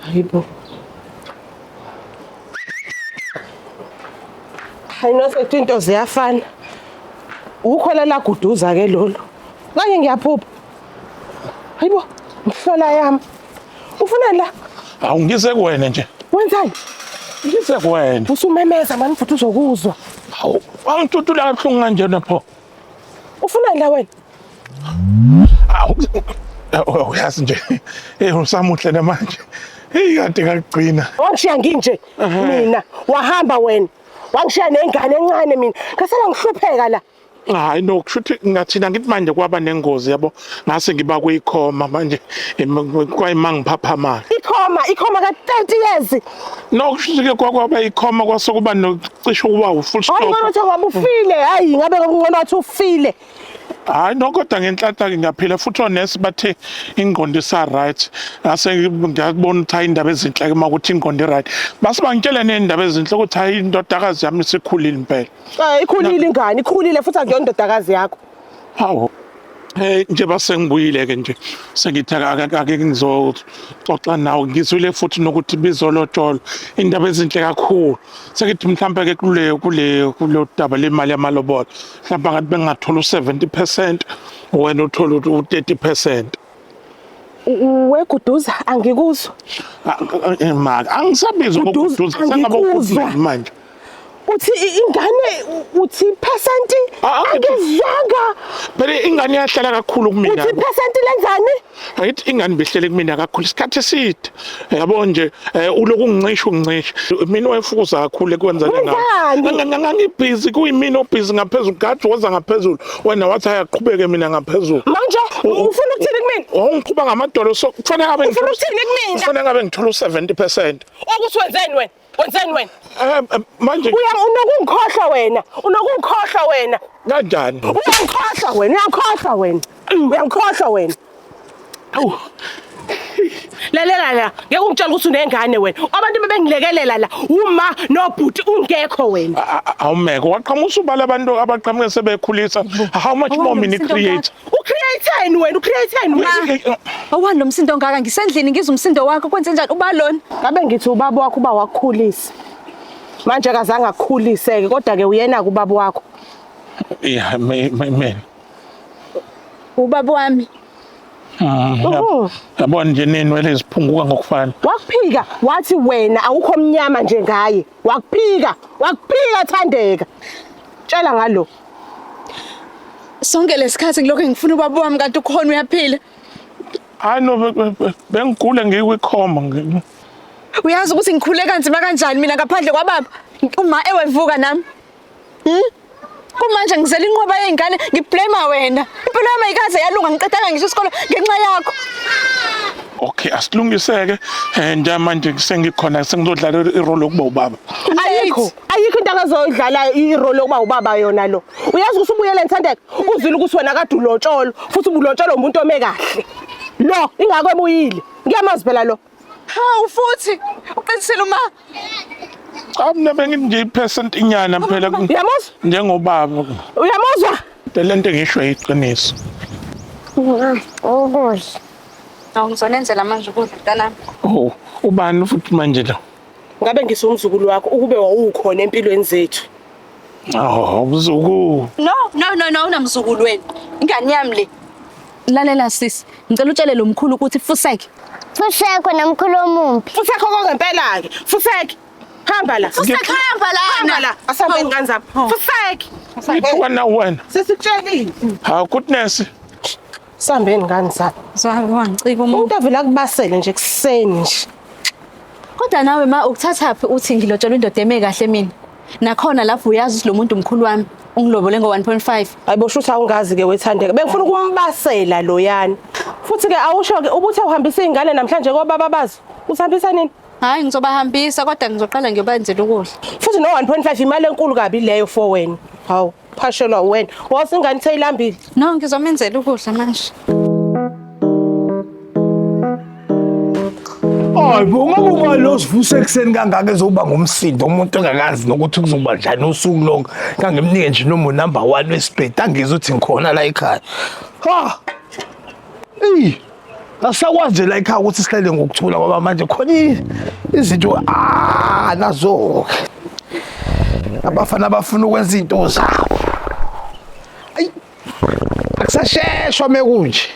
Hayi bo. Hayi nosethi into ziyafana. Ukhona la guduza ke lolu. Kanye ngiyaphupha. Hayi bo. Mhlola yami. Ufunani la? Awu ngize kuwena nje. Wenzani? Ngize kuwena. Usumemeza mani futhi uzokuzwa. Awu wangithuthula kabuhlungu kanjena pho. Ufunani la wena? Awu oh, uyazi nje. Eh usamuhle namanje. Hey kade ngakugcina. Wangishiya nginje mina wahamba wena. Wangishiya nengane encane mina. Ngasala ngihlupheka la. Hayi no kushuthi ngathina ngithi manje kwaba nengozi yabo. ngase ngiba kuyikhoma manje kwayima ngiphaphama ikhoma ikhoma ka 30 years no kushike kwakwaba ikhoma kwasokuba nocisho kuba u full stop hayi ngona waba ufile hayi ngabe ngona wathi ufile hayi no kodwa ngenhlanhla ke ngiyaphila futhi onesi bathe ingqondo isa right ngase ngiyabona ukuthi hayi indaba ezinhle ke makuthi ingqondo right base bangitshela nezindaba ezinhle ukuthi hayi indodakazi yami isikhulile impela eh ikhulile ingane ikhulile futhi akuyona indodakazi yakho hawu Hey nje basengibuyile ke nje sengithi akake ngizoxoxa nawe ngizwile futhi nokuthi bizolotshola indaba ezinhle kakhulu sengithi mhlawumbe ke kule kule kulo daba lemali yamalobola mhlawumbe ngathi bengathola u70% wena uthola u30% weguduza angikuzwa maka angisabizi ukuguduza sengabe manje uthi ingane uthi percent angizanga phela ingane yahlala kakhulu kumina uthi percent lenzani right ingane behlele kumina kakhulu isikhathi eside yabo nje eh, uloku ngicisha ungicisha mina wayefukuza kakhulu ekwenza ngani ngangibhizi kuyimina obhizi ngaphezulu gathi woza ngaphezulu wena wathi ayaqhubeke mina ngaphezulu manje ufuna ukuthini kumina ungiqhuba ngamadolo so kufanele abe ngifuna ukuthini kumina kufanele abe ngithola u70% ukuthi wenzeni wena Wenzeni wena? Eh, eh, manje Uya unokungikhohlwa wena. Unokungikhohlwa wena. kanjani? Uyangikhohlwa wena. Uyangikhohlwa wena. Uyangikhohlwa wena. Awu. Lalela la. Ngeke ungitshele ukuthi unengane wena. Abantu bebengilekelela la. Uma nobhuti ungekho wena. A- a- Awumeko waqhamusa ubala abantu abaqhamuke sebekhulisa. How much more mini create? Ucreateni wena ucreateni Ma, wena. awani lo msindo ongaka ngisendlini ngizwa umsindo wakho kwenze njani uba lona Ngabe ngithi ubaba wakho uba wakukhulisa. Manje akazange akukhuliseke kodwa ke uyena kubaba wakho. Yeah, me, me, me. ubaba wami Mm, Uhhu. Yabona nje nenwele ziphunguka ngokufana. Wakuphika wathi wena awukho mnyama nje ngaye. Wakuphika, wakuphika Thandeka. Tshela ngalo. Sonke lesikhathi ngilokho ngifuna ubaba wami kanti ukhona uyaphila. Hayi no be- be- be- bengigula ngikwikhoma ngi- Uyazi ukuthi ngikhule kanzima kanjani mina ngaphandle kwababa. Uma ewevuka nami. Hmm? Kumanje ngizela inqwaba yezingane ngiblame wena. Impilo yami ayikaze yalunga ngiqedanga ngisho isikole ngenxa yakho. okay asilungiseke um njengamanje sengikhona sengizodlala irole yokuba ubaba Ayikho. ayikho into akazoyidlalayo irole yokuba ubaba yona lo uyazi ukuthi ubuyele nthandeka uzile ukuthi wena kade ulotsholo futhi ubulotsholo umuntu ome kahle lo ingako ebuyile ngiyamazi phela lo hawu futhi uqinisile uma cha mina bengithi nje ipercent inyana phela uyamuzwa njengobaba uyamuzwa le nto ngisho iqiniso ukudla awungizonenzela manje ukudla mntanami oh ubani futhi manje lo ngabe ngisumzukulu wakho ukube wawukhona empilweni zethu Oh, mzukulu. No, no, no, no, unamzukulu wena. Ingane yami le. Lalela sisi, ngicela utshele lo mkhulu ukuthi fuseke. Fuseko nomkhulu omumbi. Fuseko kokempela ke. Fuseke. Hamba la. Fuseke hamba la. Hamba la. Asambe ingane zami. Fuseke. Ngiphuka na wena. Sesikutshelile. Ha, goodness. Sambeni ngani sami. Zami wangicika umuntu. Umuntu avela kubasele nje kuseni nje. Kodwa nawe ma ukuthathaphi uthi ngilotshelwa indoda eme kahle mina. Nakhona lapho uyazi ukuthi lo muntu mkhulu wami ungilobole ngo-1.5. Hayibo shuthi awungazi ke wethandeka. Bengifuna ukumbasela loyana. Futhi ke awusho ke ubuthi uhambisa izingane namhlanje kobaba bazo. Usihambisa nini? Hayi ngizobahambisa kodwa ngizoqala ngiyobanzela ukudla. Futhi no 1.5 imali enkulu kabi leyo for wena. Hawu. phashelwa wena wazi ingane seyilambile no ngizomenzela ukudla manje Hayi bo ngabe uma lo sivusa ekuseni kangaka ezoba ngomsindo umuntu engakazi nokuthi kuzoba njani usuku lonke kangimnike nje nomo number 1 wesibhedi angizwe ukuthi ngikhona la ekhaya ha Ey Asisakwazi nje la ekhaya ukuthi sihlele ngokuthula ngoba manje khona izinto ah nazo abafana abafuna ukwenza izinto zabo. Ayi akusasheshwa mekunje.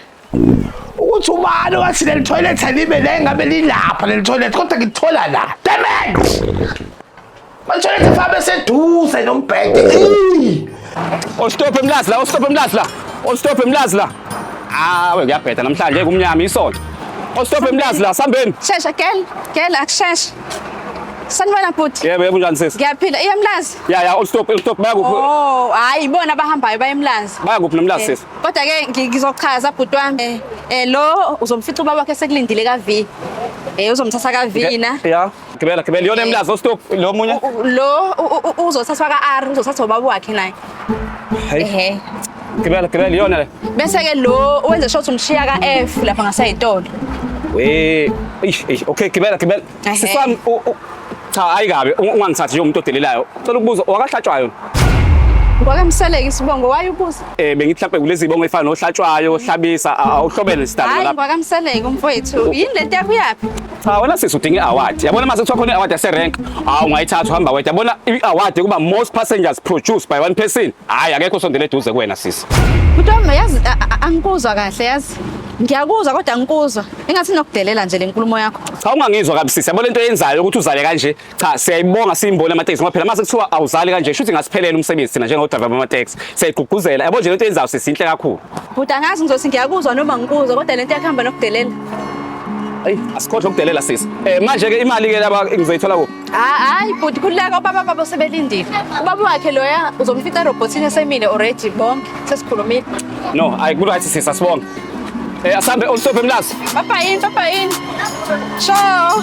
Ukuthi ubani wathi leli toilet alibe la engabe lilapha leli toilet kodwa ngithola la. Damn it! Manje fabe seduze nombhede. Oh stop emlazi la, oh stop emlazi la. Oh stop emlazi la. Ah, we kuyabheda namhlanje kumnyama isonto. Oh stop emlazi la, sambeni. Shesha gel, gel akusheshe. Sanibona bhuti. Yebo, yebo njani sisi? Ngiyaphila. Iya Mlazi. Ya ya, ustop, ustop bayakuphi? Oh, hayi ibona abahambayo baye Mlazi. Bayakuphi noMlazi eh, sisi? Kodwa ke ngizochaza bhuti wami. Eh, eh lo uzomfica ubaba wakhe sekulindile ka V. Eh uzomthatha ka V na. Ya. Gibela gibela yona emlazi ostop lo munye. Lo uzothathwa ka R uzothathwa ubaba wakhe naye. Ehe. Gibela gibela yona le. Bese ke lo wenze shot umshiya ka F lapha ngasayitolo. We ish ish okay gibela gibela. Siswami cha ayikabi ungangithathi nje umuntu odelelayo. Cela ukubuza wakahlatshwayo. Ngwake mseleke isibongo wayebuza. Eh bengithi mhlawumbe kulezi bongo efana nohlatshwayo, ohlabisa, awuhlobene sidalo lapha. Hayi ngwake mseleke umfowethu. Yini lento yakuyaphi? Cha wena sisi udinga i-award. Yabona mase kuthiwa khona i-award yase-rank. Hawu ungayithatha uhamba wedwa. Yabona i-award yokuba most passengers produced by one person. Hayi akekho sondela eduze kuwena sisi. Mntwana yazi a- a- angikuzwa kahle yazi. Ngiyakuzwa kodwa angikuzwa. Engathi nokudelela nje lenkulumo yakho. Cha ungangizwa kabi sisi. Yabona into eyenzayo ukuthi uzale kanje. cha siyayibonga siyimboni amateksi ngoba phela mase kuthiwa awuzali kanje shuthi ngasiphelela umsebenzi thina njengodriver bamateksi siyayigqugquzela yabo nje lento yenzayo sisinhle kakhulu Bhuti angazi ngizothi ngiyakuzwa noma ngikuzwa kodwa lento yakuhamba nokudelela. ayi asikhohle ukudelela sisi eh manje ke imali ke laba ngizoyithola kuphi Ah, hayi bhuti kuleka ubaba babo sebelindile. Ubaba wakhe loya uzomfica robotini esemile already bonke sesikhulumile. no ayi ku right sisi asibonge eh asambe olstop emlazi Papa yini, papa yini. Ciao.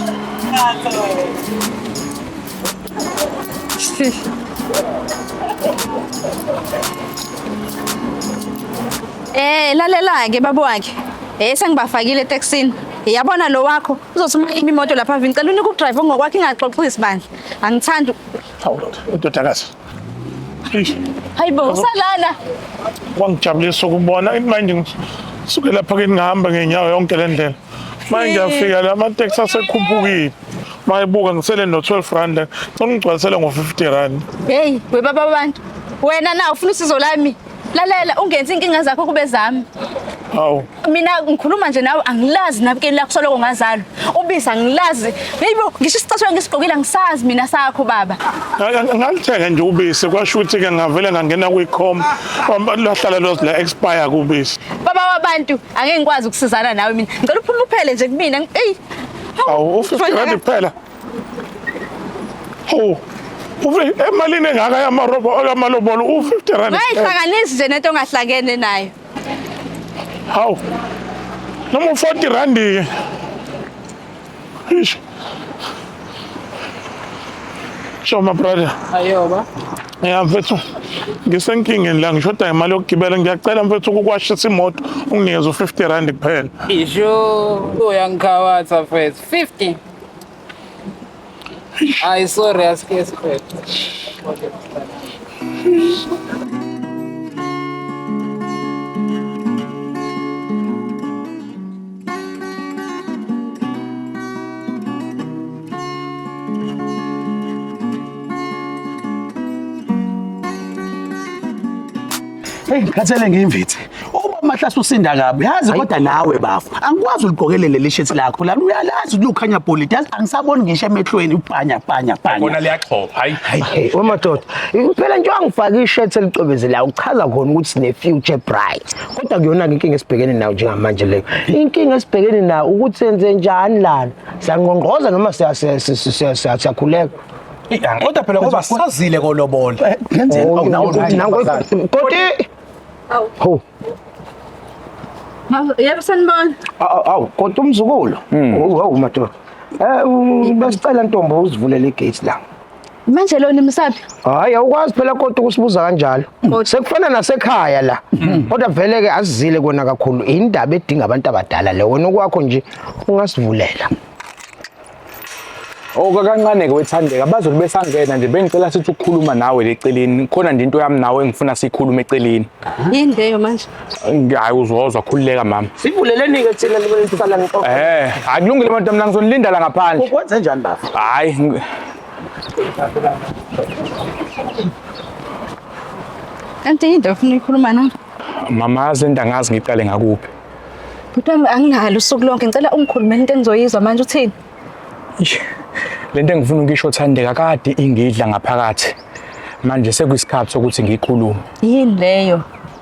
Eh lalela ke babo wakhe. Eh sengibafakile etaxini. Yabona lo wakho uzothi uma imi imoto lapha vini cela unika udrive ongokwakhe ingaxoxisi bandla. Angithandi. Hawu ndoda, indodakazi. Eish, Hayibo usalala. Kwangijabulisa ukubona imanje ngisuke lapha ke ngihamba ngenyawo yonke le ndlela. manje ngiyafika la amateksi asekhuphukile mayibuka ngisele no-12 rand la cela ungigcwalisele ngo-50 rand heyi webaba abantu wena na ufuna usizo lami lalela ungenzi inkinga zakho kube zami hawu mina ngikhuluma nje nawe angilazi nabukeni lakho soloko ngazalwa ubiza angilazi heyibo ngisho isicathulo ngisigqokile angisazi mina sakho baba ngalithenga nje ubisi kwasho ukuthi-ke ngavele ngangena kwi-com lahlala lozila expire kubisi baba wabantu angeke ngikwazi ukusizana nawe mina ngicela uphume uphele nje kumina eyi awu u-50 rand kuphela ho emalini engaka yamalobolo u-50 rand ngayihlanganisi nje nento ongahlangene nayo hawu noma u-40 randi-ke Ish. Sho ma brother. Ayoba. Ya mfethu. Ngisenkingeni la ngishoda ngemali yokugibela ngiyacela mfethu ukukwashisa imoto unginikeze u50 rand kuphela. Isho uyangikhabatha mfethu. 50. Ay sorry aske mfethu. Hey, ngikhathele ngiyimvithi. Uba mahlase usinda kabi. Yazi kodwa nawe bafo. Angikwazi uligokelele leli shirt lakho. Lana uyalazi ukuthi ukhanya polity. Yazi angisaboni ngisho emehlweni upanya panya panya. Bona liyaxhopha. Hayi. Hey, wemadoda. Impela nje wangifaka i-shirt elicwebezelayo uchaza khona ukuthi sine future bright. kodwa kuyona-ke inkinga esibhekene nayo njengamanje leyo inkinga esibhekene nayo ukuthi senze njani lana siyangqongqoza noma siyakhuleka kodwa phela ngoba sazile kolobola eh, koti ho yebo sanibona awu kodwa umzukulu hmm. hawu madoda um besicela ntombo uzivulele igate la Manje lona imsaphi? Hayi awukwazi phela kodwa ukusibuza kanjalo. Sekufana nasekhaya la. Kodwa vele ke asizile kona kakhulu indaba edinga abantu abadala le wena okwakho nje ungasivulela. Okakancane ke wethandeka bazobe besangena nje bengicela sithi ukukhuluma nawe leceleni khona nje into yami nawe engifuna sikhulume eceleni. Yini leyo manje? hayi uzozwa khululeka mama sivuleleni-ke thina libenisala ngiqoqe eh hayi kulungile abantu amna ngizonilinda la ngaphandle ukwenze njani baba hayi ngi- Kanti yini into ofuna uyikhuluma na? mama yazi into angazi ngiqale ngakuphi Bhuti wami anginalo usuku lonke ngicela ungikhulumele into engizoyizwa manje uthini? Eish, le nto engifuna ukuyisho thandeka kade ingidla ngaphakathi manje sekuyisikhathi sokuthi ngiyikhulume Yini leyo?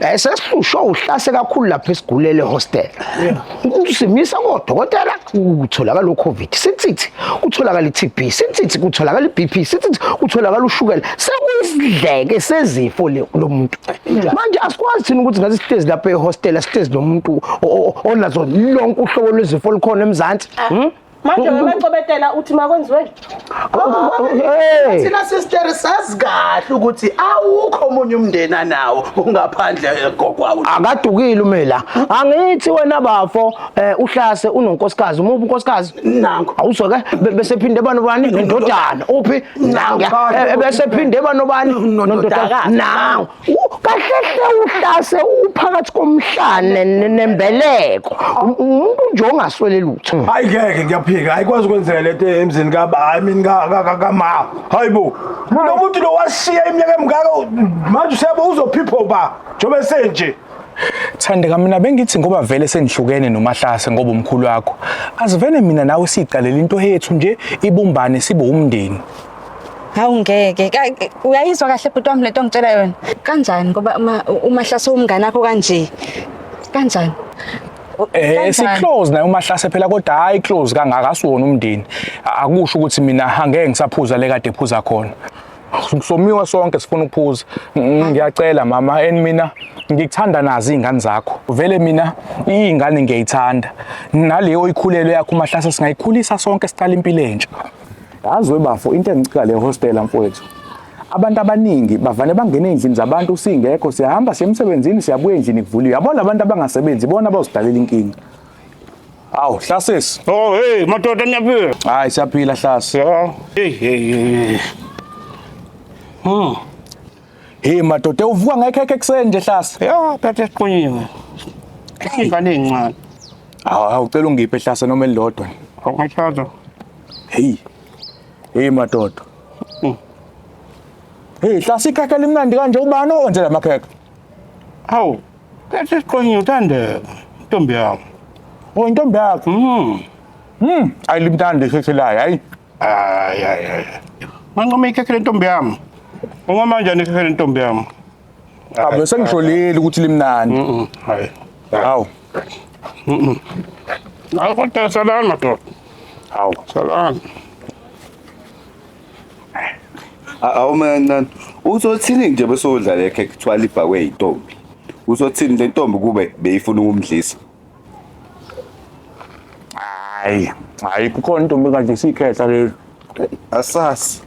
Eh sesihlushwa uhlase kakhulu lapha esigulele hostel. Simisa kodokotela kutholakala uCovid. Sithithi kutholakala iTB, sithithi kutholakala iBP, sithithi kutholakala ushukela. Sekuyisidleke sezifo lo muntu. Manje asikwazi thina ukuthi ngathi sihlezi lapha ehostel sihlezi nomuntu onazo lonke uhlobo lwezifo likhona eMzansi. Hmm? manje wemacobetela uthi makwenziwe thina sister sazi kahle ukuthi awukho omunye umndeni anawo ungaphandle kokwawo akadukile umela angithi wena bafo eh, uhlase unonkosikazi umubi unkosikazi nangu awuzwe ke be- bese phinde bani bani nendodana uphi nangu eh, bese phinde bani bani nendodana nangu kahlehle uhlase uphakathi komhlane nembeleko umuntu nje ongaswele lutho hmm. hayi ngeke ngiyaphika ayikwazi ukwenzeka lento emzini kaba i mean kama hayi bo lo muntu lo washiya iminyaka emingaka manje usebo uzophipho ba njengoba senje Thandeka mina bengithi ngoba vele sengihlukene nomahlase ngoba umkhulu wakho. Asivene mina nawe siqalela into yethu nje ibumbane sibe umndeni. Hawu ngeke. Ka- Uyayizwa kahle bhuti wami lento ngitshela yona. Kanjani ngoba uma uma hlase umngane akho kanje. Kanjani? Eh Kanjani? siclose naye umahlase phela kodwa hayi close kangaka asiwona umndeni. A- Akusho ukuthi mina ha, ngeke ngisaphuza le kade phuza khona. Somiwa sonke sifuna ukuphuza. Mm, Ngiyacela mama and mina ngikuthanda nazi izingane zakho. Vele mina izingane ngiyayithanda. Naleyo oyikhulelwe yakho umahlase singayikhulisa sonke siqala impilo entsha. yazi webafo into engicika le hostela mfowethu abantu abaningi bavane bangena ey'ndlini zabantu singekho siyahamba siya emsebenzini siyabuya endlini kuvuliwe yabo labantu abangasebenzi bona abazidaleli inkinga awu hlasesi oh hey madoda nyaphila hayi siyaphila hlasi hey hey hey hmm Hey madoda uvuka ngekhekhe ekuseni nje hlasa. Yo phethe siqunyiwe. Ingane encane. Hawu ucela ungiphe hlasa noma elilodwa. Awukachaza. Hey. Hey madoda. Mm. Hey hlasa ikhekhe elimnandi kanje ubani owenze la makhekhe? Hawu. Phethe siqunyiwe uthandeka. Intombi yakho. Oh intombi yakho. Mhm. Mhm. Ayilimtandi ikhekhe layo. Hayi. Ay, ay, ay. Manqoma ikhekhe lentombi yami. Unqoma kanjani ikhekhe lentombi yami? Cha mina sengijolile ukuthi limnandi. Mhm. Hayi. Hawu. Hayi kodwa salana madoda. Hawu. Salana. awumancane uzothini nje besodla lekhe kuthiwa libhakwe yintombi uzothini le ntombi kube beyifuna ukumdlisa Hayi, hayi kukhona intombi kanje isikhehla leli. Asasi.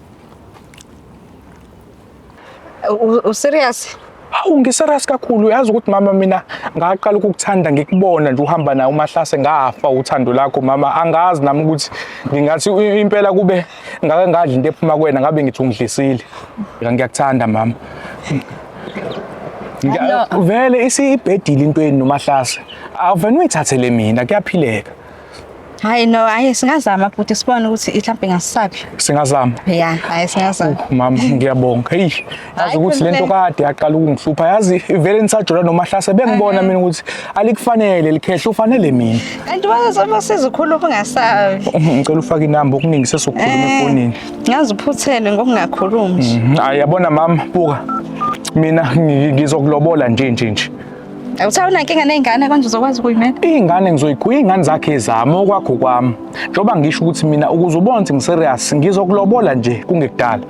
U- Userious? Hawu ngiseras kakhulu uyazi ukuthi mama mina ngaqala ukukuthanda ngikubona nje uhamba naye umahlase ngafa uthando lakho mama angazi nami ukuthi ngingathi i- impela kube ngake ngadla into ephuma kwena ngabe ngithi ungidlisile ngiyakuthanda mama vele isibhedile into yenu nomahlase awuvena uyithathele mina kuyaphileka hayi no hayi singazama futhi sibone ukuthi mhlawumbe ngasisaphi singazama ya hayi singazama mama ngiyabonga heyi yazi ukuthi lento kade yaqala ukungihlupha yazi ivele nisajola nomahlase bengibona mina ukuthi alikufanele likhehla ufanele mina kanti wazoma sizikhulu ukungasabi ngicela ufake inamba okuningi sesokhuluma eh, efonini ngazi uphuthele ngokungakhulumi nje mhm. hayi yabona mama buka mina ngizokulobola nje nje nje Awuthawu nankinga nezingane konje uzokwazi ukuyimela. Izingane ngizoyikhulisa izingane zakhe zami okwakho kwami. Njoba ngisho ukuthi mina ukuze ubone ukuthi ngiserious ngizokulobola nje kungekudala.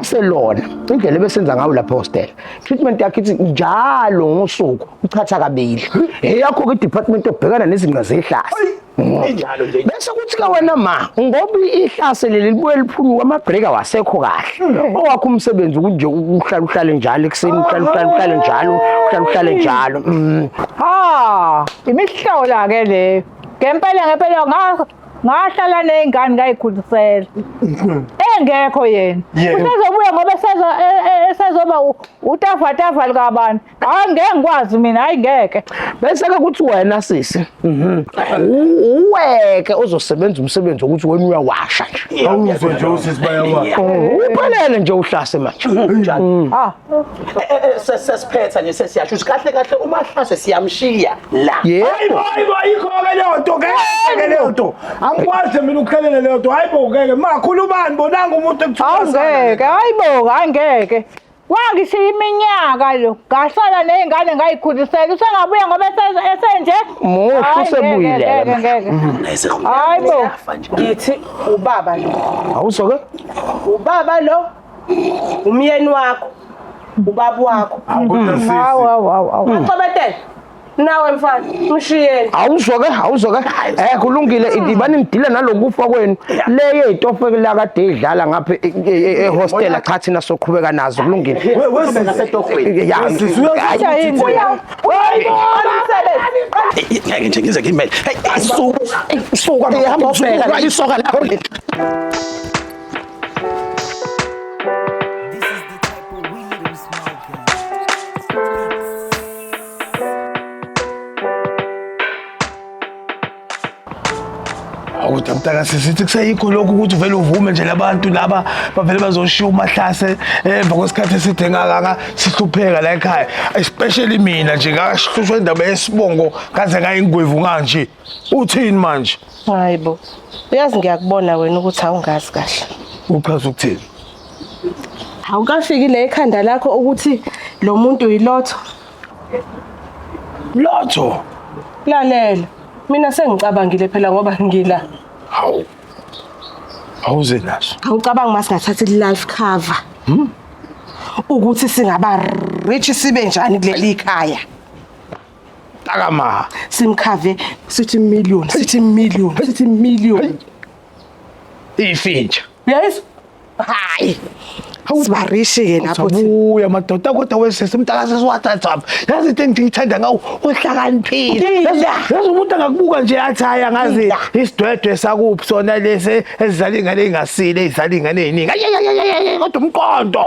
Selona indlela ebesenza ngayo lapha hostel. Treatment yakhe ithi njalo ngosuku uchatha kabili. Eyakho ke department obhekana nezingqa zehlazo. injalo nje bese kuthi ke wena ma ngoba ihlase leli libuye liphunyuka amabreak awasekho kahle hmm. owakho umsebenzi kunje uhlala uhlale njalo ekuseni uhlala uhlala uhlale njalo uhlala uhlale njalo hmm. ha imihlola ke leyo ngempela ngempela ngahlala nezingane ngayikhulisela hmm. engekho yena usezobuya ngoba esezoba e, e, utafatafa likabantu hayi ngeke ngikwazi mina hayi ngeke bese ke kuthi wena sisi mhm. uweke ozosebenza umsebenzi wokuthi wena uyawasha nje awuzwe nje usisi bayawasha oh, uphelele nje uhlase manje njani mm. ah eh, eh, eh, sesiphetha nje sesiyasho ukuthi kahle kahle uma hlase siyamshiya la yebo hayibo ayikho ke leyo nto ngeke leyo nto angikwazi mina ukukhelela leyo nto hayibo ngeke makhulumani bonanga umuntu ekuthiwa ngeke hayibo hayi ngeke Wangishiya iminyaka lo. Ngasala nezingane ngayikhulisela. Usengabuya ngoba esenze esenje. Muhle Hayi, ngeke, usebuyile. ngeke, ngeke. Ngeze Hayi bo. ngiyafa nje. Ngithi ubaba lo. Awuso ke? Ubaba lo. Umyeni wakho. Ubaba wakho. Kodwa sisi. Awu awu awu awu. Axobetele. nawe mfana mshiyeni awuzwa ke awuzwa ke eh kulungile idibani ngidile nalokufa kwenu leye itofe la kade idlala ngapha e, e, e, ehostel cha thina soqhubeka nazo kulungile wesizwe setofweni yasizwe yini ngeke nje ngize ngimele hey asuka asuka ihamba ubheka isoka lakho awu mntaka sisithi kuseyikho lokhu ukuthi uvele uvume nje labantu laba bavele bazoshiya umahlase emva kwesikhathi eside ngakaka sihlupheka la ekhaya especially mina nje ngakahlushwa indaba yesibongo kaze ngayingwevu kanje uthini manje hayi bo uyazi ngiyakubona wena ukuthi awungazi kahle uchaza ukuthini Awukafiki la ekhanda lakho ukuthi lo muntu yilotho. Lotho. Lalela. Mina sengicabangile phela ngoba ngila. Hawu. Awuze naso. Awucabangi masingathatha i-life cover. Hmm? Ukuthi singaba rich sibe njani kuleli khaya. Takama. Simkhave sithi million, sithi million, sithi million. Ifintsha. Yes. hayi sibarishi-ke lapho thi- ubuya madoda kodwa wesisi umntakase siwathathapha yazi into engithiyithanda ngawo uhlakaniphile Ngida. Yazi- yazi umuntu angakubuka nje athi hayi angazi Ngida. isidwedwe sakuphi sona lesi ezidlala iy'ngane ey'ngasile ey'dlala iy'ngane ey'ningi Ayayayayayay, kodwa umqondo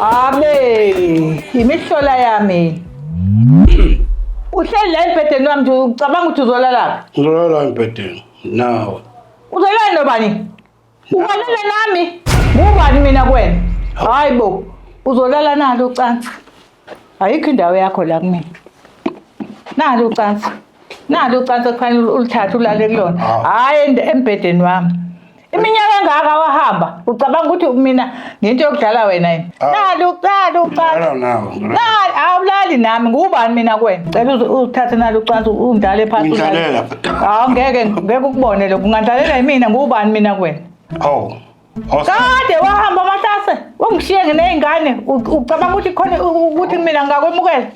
Abe imihlola yami. Uhleli la embhedeni wami nje ucabanga ukuthi uzolalaphi? Ngizolala embhedeni nawe. Uzolala nobani? Ukalala nami. Ngubani mina kwena? Hayi bo. Uzolala nalo ucansi. Ayikho indawo yakho la kumina. Nalo ucansi. Nalo ucansi kufanele ulithathe ulale kulona. Hayi embhedeni wami. Iminyaka engaka wahamba. Ucabanga ukuthi mina ngento yokudlala wena yini nalo uqala uqala nalo awulali nami ngubani mina kwena cela uthathe nalo ucansi ungidlale phansi ungidlalela hawu ngeke ngeke ukubone lokho ungadlalela yimina ngubani mina kwena hawu kade wahamba amatase ungishiye nginey'ngane ucabanga ukuthi khona ukuthi mina ngakwemukela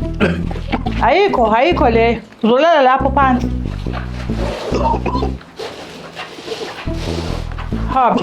ayikho ayikho leyo uzolala lapho phansi hamba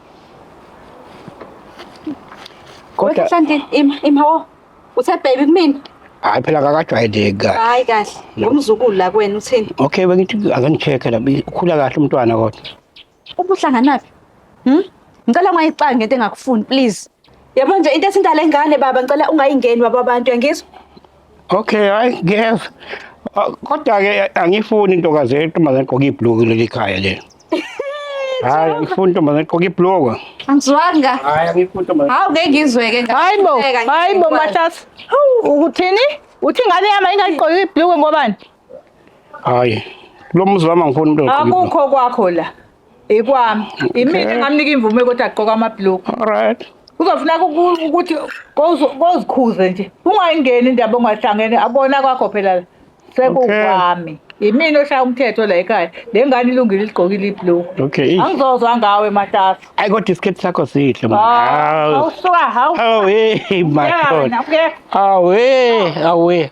kodwa Wehlanti ima ima wo. Uthe baby kumina. hayi phela kakajwayeleki kahle Hayi kahle. Ngumzukulu la kwena uthini? okay bengithi ake ngicheck la ukhula kahle umntwana kodwa Ubuhlanganaphi? Hm? Ngicela ungayixangi ngento engakufuni please. Yabo nje into ethinta lengane baba ngicela ungayingeni baba abantu yangizwa. Okay, hayi ngiyeza. Ah, Kodwa ke angifuni intokazi yentombazane egqoka ibhluku leli khaya le. Hayi angifuni intombazane egqoka ibhluku. Angizwanga. Hayi angifuni intombazane. Hawu ngeke ngizweke ngathi. Hayi bo, Ngeke, ngeke hayi bo ngikwazi. Mahlasa. Hawu, Ukuthini? Uthi ingane yami ingagqoki ibhluku ngobani? hayi lo muzi wami angifuni umuntu akukho kwakho la ikwami imina ngamnika imvume ukuthi agqoka amabhlokhu alright kuzofuneka ukuthi kozikhuze nje ungayingeni indaba ongahlangene abona kwakho phela la sekukwami yimina oshaya umthetho la ekhaya le ngane ilungile iligqokile iblue okay angizozwa ngawe matasa ayi kodwa isikhethi sakho sihle awusuka ah, hawu awe madoda awe awe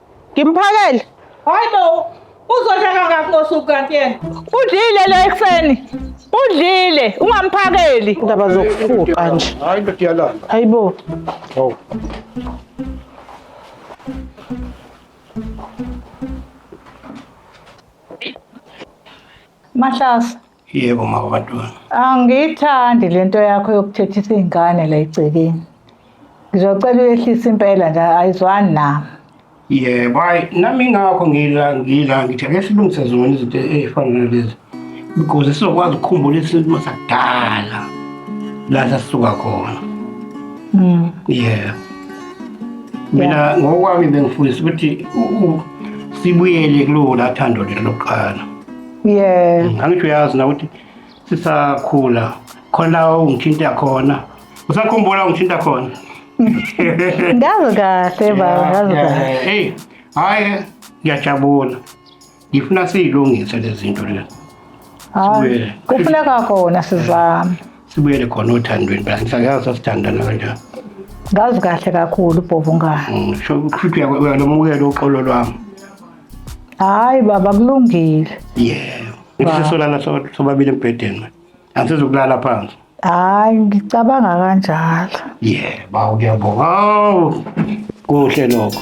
Ngimphakele. Hayi bo, uzodla kangaki ngosuku kanti yena? Udlile lo ekuseni. Udlile, ungamphakeli. Indaba zokufuqa nje. Hayi ndoda iyalamba. Hayi bo. Hawu. Mahlasa, Yebo mama Bantwana. Angiyithandi lento yakho yokuthethisa izingane la egcekeni. Ngizocela uyehlisa impela nje ayizwani nami. Yebo, hayi nami ngakho ngila ngila ngithi ake silungise zona izinto ezifana nalezi. Because sizokwazi ukukhumbula isintu sakudala. La sasuka khona. Mm. Yebo. Mina ngokwami bengifundisa ukuthi u- u- sibuyele kulona thando lethu lokuqala. yeah mm, angithi uyazi na ukuthi sisakhula khona ungithinta khona usakhumbula ungithinta khona ngazi kahle baba ngazi kahle hey hayi ngiyajabula ngifuna siyilungise lezi zinto lezi hayi kufuneka kona sizame sibuyele khona othandweni phela ngisayazi asithandana kanjani ngazi kahle kakhulu bhovungane mm, sho ukuthi uyalomukela uxolo lwami hayi baba kulungile yebo ngisesolala so- sobabili embhedeni manje angisezokulala phansi hayi ngicabanga kanjalo yebo bawu ngiyabonga awu kuhle lokho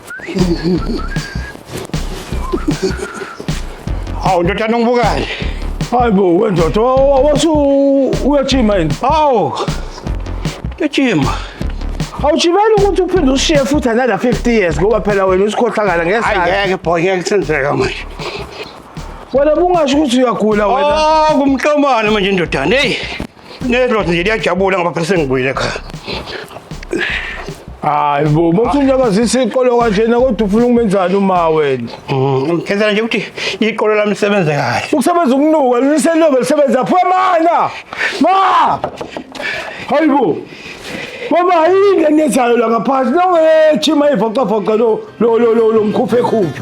Hawu ndoda nongibukayo. Hayi bo wendoda wa- wa- wasu uyajima yini? Hawu. Ejima. Awujimeli ukuthi uphinde ushiye futhi another 50 years ngoba phela wena usikhohlakala Hayi ngesandla. ngeke boy ngeke senzeka manje. Wena bungasho ukuthi uyagula wena. Oh kumhlomane manje ndodana. Hey. Nedlozi nje liyajabula ngoba phela sengibuyile ekhaya. Hayi bo, muthi unyakazisa iqolo kanjena kodwa ufuna ukumenzani uma wena? Ngenzela nje ukuthi iqolo lami lisebenze kahle. Ukusebenza ukunuka liselobe lisebenza phuma mana. Ma! Hayi bo. Mama yini enenzayo la ngaphansi? Nongethi mayivocavoca lo lo lo lo mkhuphe khuphe.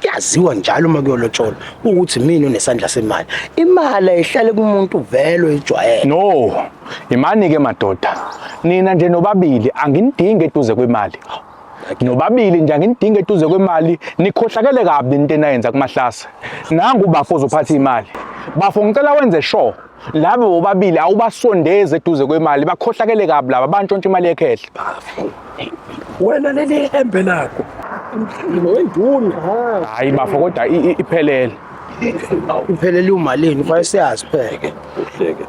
kuyaziwa njalo uma kuyolotsholwa ukuthi mina unesandla semali imali ayihlale kumuntu vele oyijwayele no imani ke madoda nina nje nobabili anginidingi eduze kwemali nobabili nje anginidingi eduze kwemali nikhohlakele kabi into enayenza kumahlase nangu bafo uzophatha imali bafo ngicela wenze sure laba bobabili awubasondeze eduze kwemali bakhohlakele kabi laba bantshontsha imali yekhehla wena leli hembe lakho wenduna hayi bafo kodwa i- i- iphelele iphelele umalini kufanele siyazi pheke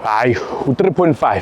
hayi u-3.5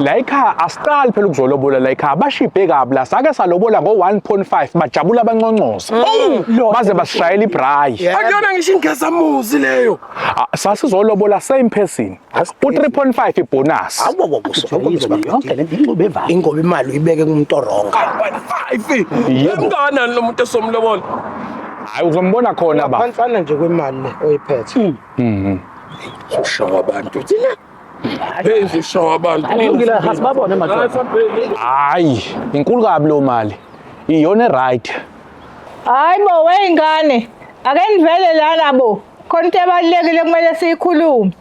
layikhaya asiqali phela ukuzolobola layikhaya bashibhe kabi la sake salobola ngo-1.5 bajabula abanconcoza mm. baze basishayela ibhrayi akuyona ngisho ingezamuzi leyo ah, sasizolobola same person u-3.5 ibhonasi ingoba imali uyibeke kumuntu oronga mngakanani lo muntu esomlobola hayi uzombona khona ba phansana nje kwemali oyiphethe mm-hmm. ushawa abantu thina Hey zishawa abantu. Kulungile asibabone madoda. Hayi, inkulu kabi lo mali. Iyona eright. Hayi bo weyingane, ake nivele lana bo. Khona into ebalulekile kumele siyikhulume.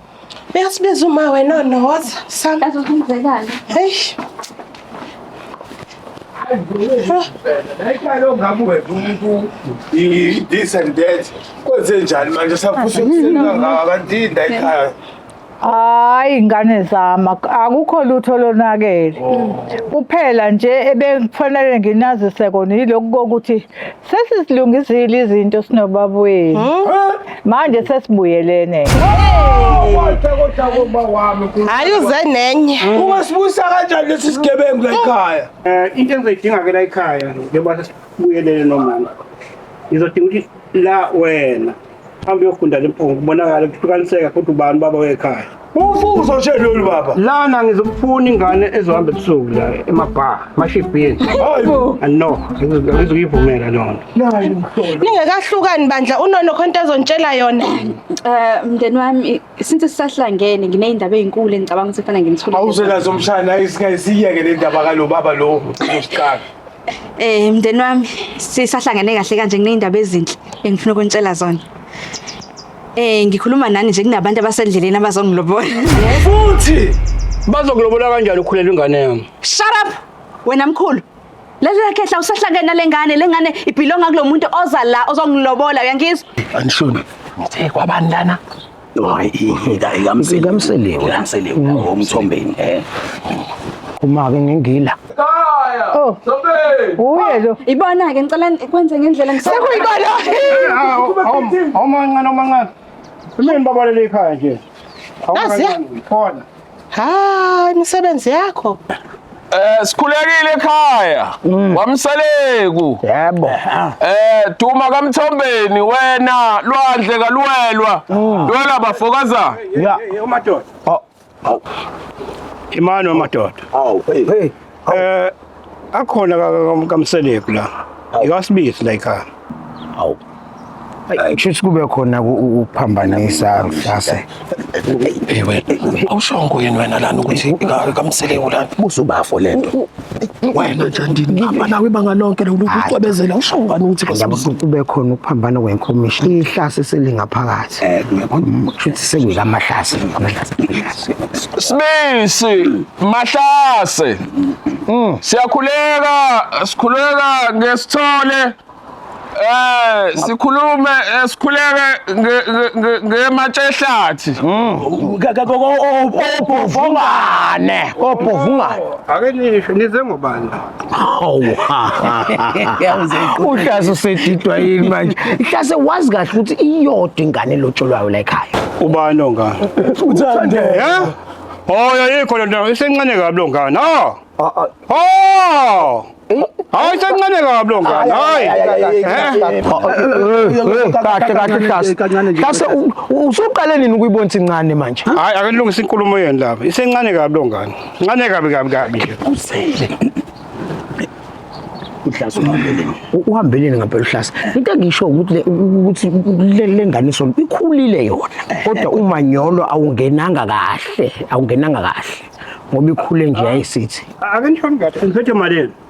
Uyasibiza uma wena noza. Sam. Azozenzekani? Hey. Nayikalo ngabe wena umuntu i-this and that. Kwenze njani manje safuthi ukusenga ngabantu indayikhaya. Hayi ngane zama akukho lutho lonakele. Oh. Kuphela nje ebekufanele nginazise kona yilokhu kokuthi sesisilungizile izinto sinobaba wenu. Hmm? Manje sesibuyelene. Hayi uze nenye. Hmm. Ungasibusa kanjani lesi sigebengu la ekhaya? Eh into engizoyidinga ke la ekhaya njengoba sesibuyelene nomama. Ngizodinga ukuthi la wena Hamba uyofunda lempunga kubonakala kuhlukaniseka futhi ubani baba wekhaya. Ufuzo nje lolu baba. Lana ngizokufuna ingane ezohamba ebusuku la emabhar, emashibhini. Hayibo. No, ngizokuyivumela lona. Nayo mhlola. Ningekahlukani bandla unono khonto ezontshela yona. Eh mndeni wami since sisahlangene ngineyindaba ezinkulu engicabanga ukuthi kufanele ngimthule awusenazo mshana isingayisiyeke le ndaba kalo baba lo usiqala eh mndeni wami sisahlangene kahle kanje ngineyindaba ezinhle engifuna ukuntshela zona eh ngikhuluma nani nje kunabantu abasendleleni abazongilobola futhi bazokulobola kanjani ukhulelwa ingane yami shut up wena mkhulu Lalela khehla usahlangene nalengane lengane ibhilonga kulomuntu oza la ozongilobola uyangizwa? Anishoni. Ngithe kwabani lana? Hayi ingida ikamsele. Ikamsele. Ikamsele ngomthombeni eh. Uma ke ngingila. Ekhaya. Oh. Sobe. Uye lo. Ibona ke ngicela kwenze ngendlela ngisakho. Sekuyibona. Awumancane awumancane. Mina babalele ekhaya nje. Khona. Hayi imisebenzi yakho. Eh sikhulekile ekhaya mm. wamsaleku yebo eh duma kamthombeni wena lwandle kaluwelwa mm. lwela bafokaza ya umadoda oh. imani wamadoda awu hey Eh akhona kamseleku la. Ikasibisi la ikhaya. Awu. Kushuthi kube khona ukuphambanisa mhlase. Ewe, awushongo yini wena lana ukuthi kamseleku lana. Busubafo lento. Wena nje ndinihamba nawe ibanga lonke lokucwebezela awushongo ngani ukuthi kube khona ukuphambana kwenkomishi. Ihlase selingaphakathi. Right. Eh, ngiyabona ukuthi sengika mahlase. Sibisi mahlase. Mm. Siyakhuleka, sikhuleka ngesithole. Eh, sikhulume eh, sikhuleke ngematshehlathi. Mm. Obhovungane, obhovungane. Ake nisho nize ngobani? Hawu. Yawuze iqoqe. Uhlase usedidwa yini manje? Ihlase wazi kahle ukuthi iyodwa ingane elotsholwayo la ekhaya. Ubani ongane? Uthande. Eh? Oh, yayikho le nto. Isencane kabi lo ngane. Ah! Ah, ah, Oh! Hayi isencane kabi lo ngane. Hayi. Eh? Kahle kahle Hlase. Kancane nje. Hlase u- u- usuqale nini ukuyibona incane manje? Hayi akanilungisa inkulumo yenu laba. Isencane kabi lo ngane. Ngane kabi kabi kabi. Usele. uhlasa uhambeleni uhambeleni ngempela uhlasa into engisho ukuthi ukuthi lenganiso ikhulile yona kodwa umanyolo awungenanga kahle awungenanga kahle ngoba ikhule nje ayisithi akanjani kahle ngiphethe malini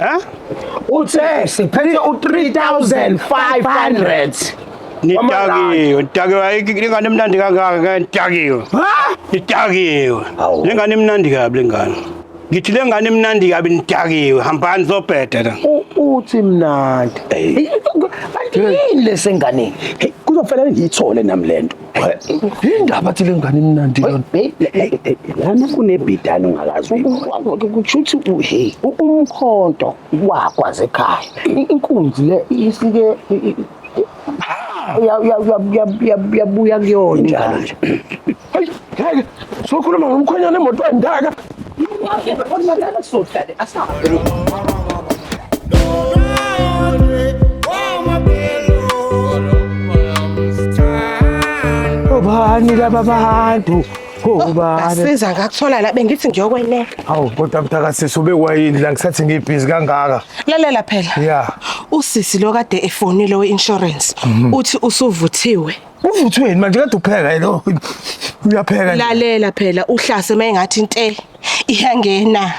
Eh? Uthe siphethe u3500. Nitakiwe, nitakiwe ayikho ingane emnandi kangaka ke nitakiwe. Ha? Nitakiwe. Awu. Lengane emnandi kabi lengane. Ngithi lengane emnandi kabi nitakiwe, hambani zobheda la. U- Uthi mnandi. Hey, Kanti yini lesenganeni? Hey, kuzofanele ngiyithole nami lento. Indaba thile ngane imnandi yona. Lana kunebhidana ungakazi. Kusho ukuthi hey umkhonto wakwaze ekhaya. Inkunzi le isike yabuya kuyona njalo nje. Hayi, sokhuluma ngomkhonyana emotweni ndaka. obani laba bantu obani Asiza ngakuthola la bengithi ngiyokweneka. awu kodwa mthakasisi ubekwayini la ngisathi ngibhizi kangaka Lalela phela. ya Usisi lo kade efonile we-insurance uthi usuvuthiwe. Uvuthweni manje kade upheka lo. Uyapheka. Lalela phela uhlase mayengathi inte iyangena.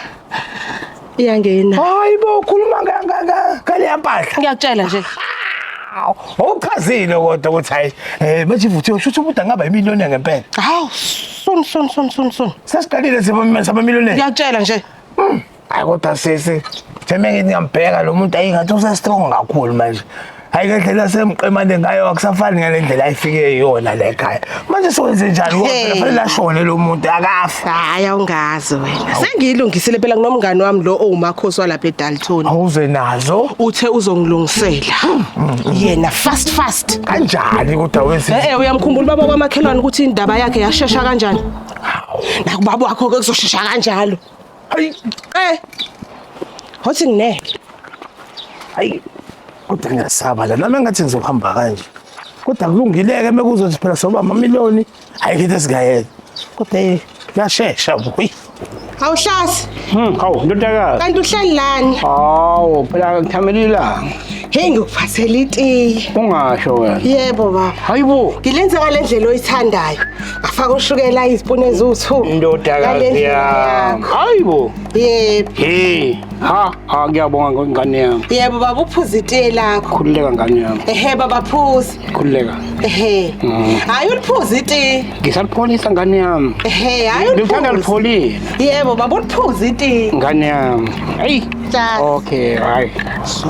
Iyangena. Hayi bo ukhuluma kangaka kale yampahla. Ngiyakutshela nje. Awuchazile kodwa ukuthi hayi eh manje ivuthiwe shuthi umuntu angaba imiliyoni ngempela. Hawu sun sun sun sun sun. Sesiqalile sibamisa abamiliyoni. Ngiyakutshela nje. Mm. hayi kodwa sisi semengithi ngiyambheka lo muntu ayingathi usestrong kakhulu manje hayi le ndlela semqemane ngayo akusafani ngale ndlela ayifike yona le khaya manje siwenze njani ngoba Hey. phela fanele ashone lo muntu akafa hayi awungazi wena sengiyilungisile phela kunomngani wami lo owumakhosi walapha edalton awuze nazo uthe uzongilungisela yena fast fast kanjani kodwa wesi e-e uyamkhumbula ubaba kwamakhelwane ukuthi indaba yakhe yashesha kanjani nakubaba wakho-ke kuzoshesha kanjalo Ay, Eh, hothi ngineke. ay. Kodwa ngiyasaba la. Nami ngathi ngizohamba kanje. Kodwa kulungileke mekuzothi phela soba amamiliyoni. Hayi ngithe singayeka. Kodwa eh yashesha boy. Awuhlasi, Hmm, hawu ndodakazi. kanti uhleli lani? Hawu phela ngithamela ilanga. Hey ngikuphathela itiye. Ungasho wena. Yebo baba. Hayibo. Ngilenza ngale ndlela oyithandayo. Afaka ushukela izipuni eziwu-2. Indodakazi yami. Hayi bo. Yebo. Hey, ha, ha ngiyabonga ngengane yami. Yebo baba uphuza itiye lakho. Khululeka ngane yami. Ehe baba phuza. Khululeka. Ehe. Mm. Hayi uliphuza itiye. Ngisalipholisa ngane yami. Ehe, hayi uliphuza. Ngithanda lipholile. Yebo baba uliphuza itiye. Ngane yami. Hey. Just. Okay, hayi. So.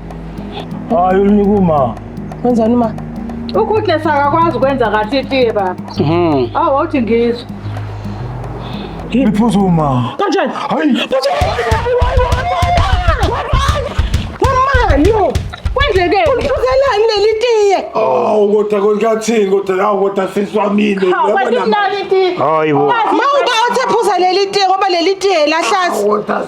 Hayi ulinika uma. Wenzani uma? Ukhuhle sakakwazi ukwenza kahle itiye baba. Mhm. Awu wawuthi ngizwe. Iphuza uma. Kanjani? Hayi. Wamani yo. Kwenzeke. Ulifuzelani leli tiye? Awu kodwa konkathini kodwa awu kodwa sisi wamini. Hawu kanti mnani itiye. Hayi bo. Mawuba uthi phuza leli tiye ngoba leli tiye lahlaza. Kodwa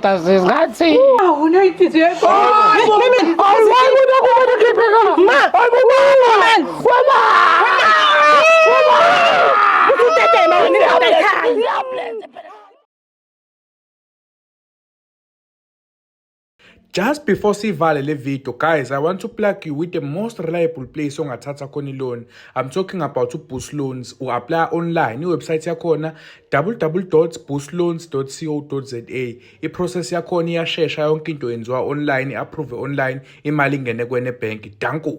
Tasis ngathi. Awu nayi titi yakho. Awukuda kuba khipheka. Ma. Awukuba. Wala. Wala. Usutete mama ni ngaba ekhaya. Just before sivale le video guys I want to plug you with the most reliable place ongathatha khona i-loan I'm talking about uBoost Loans u-apply online i-website yakhona www.boostloans.co.za iprocess yakhona iyashesha yonke into yenziwa online approve online imali ingene kwene bank danko